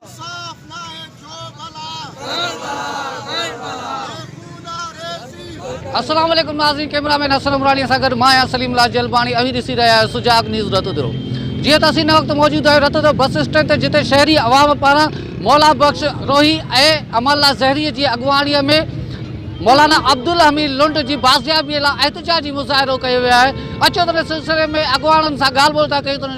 صاف ناهي جو بلا ۽ بلا ۽ بلا هي خون آ ريتي. السلام عليڪم ناظرين ڪيمرا مين حسن عمراڻي سان گڏ مان آهيان سليم الله جلباڻي اوهين ڏسي رهيا آهيو سجاڳ نيوز رتودرو جيئن ته اسين هن وقت موجود آهيون رتودرو بس اسٽينڊ تي جتي شهري عوام پاران مولا بخش روهي ۽ امان الله زهري جي اڳواڻي ۾ مولانا عبدالحميد لنڊ جي بازيابي لاء احتجاجي مظاهرو ڪيو ويو آهي اچو ته ان سلسلي ۾ اڳواڻن سان ڳالهه ٻولهه ٿا ڪيون ته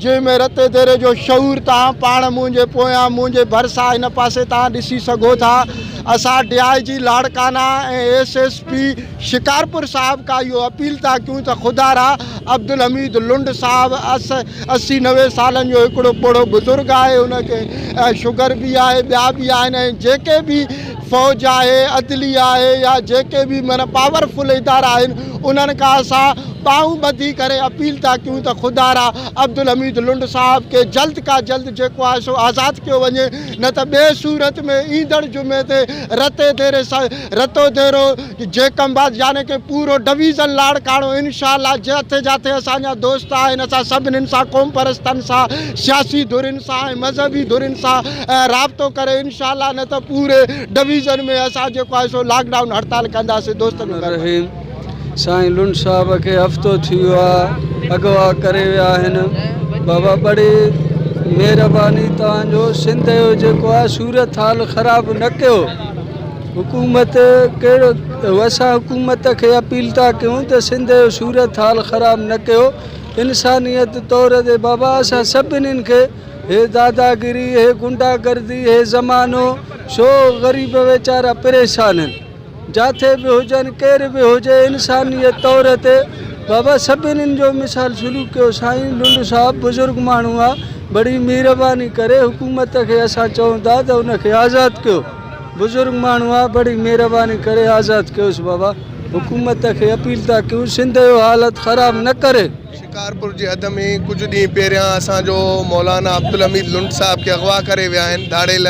جنهن ۾ رت ديري جو شعور توهان پاڻ منهنجي پويان منهنجي ڀرسان هن پاسي توهان ڏسي سگهو ٿا اسان D I G Larkana ۽ S S P Shikarpur صاحب کان اهو اپيل ٿا ڪيون ته خدا را عبدالحميد لنڊ صاحب اسي نوي سالن جو هڪڙو پوڙهو بزرگ آهي ان کي شگر به آهي ٻيا به آهن ۽ جيڪي به فوج آهي، عدليه آهي يا جيڪي به معنيٰ پاور فل ادارا آهن انهن کان اسان ٻانهون ٻڌي ڪري اپيل ٿا ڪيون ته خدارا عبدالحميد لنڊ صاحب کي جلد کا جلد جيڪو آهي سو آزاد ڪيو وڃي نه ته ٻي صورت ۾ ايندڙ جمعي تي رتي ديري سان رتو ديرو جيڪم آباد يعني ڪه پورو ڊويزن لاڙڪاڻو انشاء الله جاٿي جاٿي اسان جا دوست آهن اسان سڀنن سان قومپرستن سان سياسي ڌرين سان ۽ مذهبي ڌرين سان رابطو ڪريو انشاء الله نه ته پوري ڊويزن ۾ اسان جيڪو آهي سو لاڪ ڊائون هڙتال ڪنداسين دوستن جو گهر بند. سائين لنڊ صاحب کي هفتو ٿي ويو آ اغوا ڪري ويا آهن بابا بڙي مهرباني توهان جو سنڌ جو جيڪو آ صورت حال خراب نه ڪيو حڪومت ڪهڙو اسان حڪومت کي اپيل ٿا ڪيون ته سنڌ جو صورت حال خراب نه ڪيو انسانيت طور تي بابا اسان سڀنين کي هي داداگري هي غنڊا گردي هي زمانو ڇو غريب ويچارا پريشان آهن جاٿي به هجن ڪير به هجي انسانيت طور تي بابا سڀنين جو مثال سلوڪ ڪيو سائين لنڊ صاحب بزرگ ماڻهو آ بڙي مهرباني ڪري حڪومت کي اسان چئون ٿا ته ان کي آزاد ڪيو بزرگ ماڻهو آ بڙي مهرباني ڪري آزاد ڪيوس بابا حڪومت کي اپيل ٿا ڪيون سنڌ جو حالت خراب نه ڪري. شڪارپور جي حد ۾ ڪجهه ڏينهن پهريان اسان جو مولانا عبدالحميد لنڊ صاحب کي اغوا ڪري ويا آهن ڌاڙيل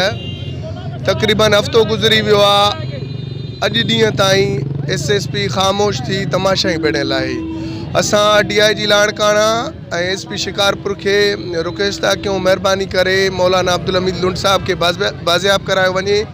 تقريبن هفتو گذري ويو آهي اڄ ڏينهن تائين ايس ايس پي خاموش ٿي تماشا ئي بڻيل آهي اسان D I G Larkana ۽ S P Shikarpur کي رڪويسٽ ٿا ڪيون مهرباني ڪري مولانا عبدالحميد لنڊ صاحب کي بازياب ڪرايو وڃي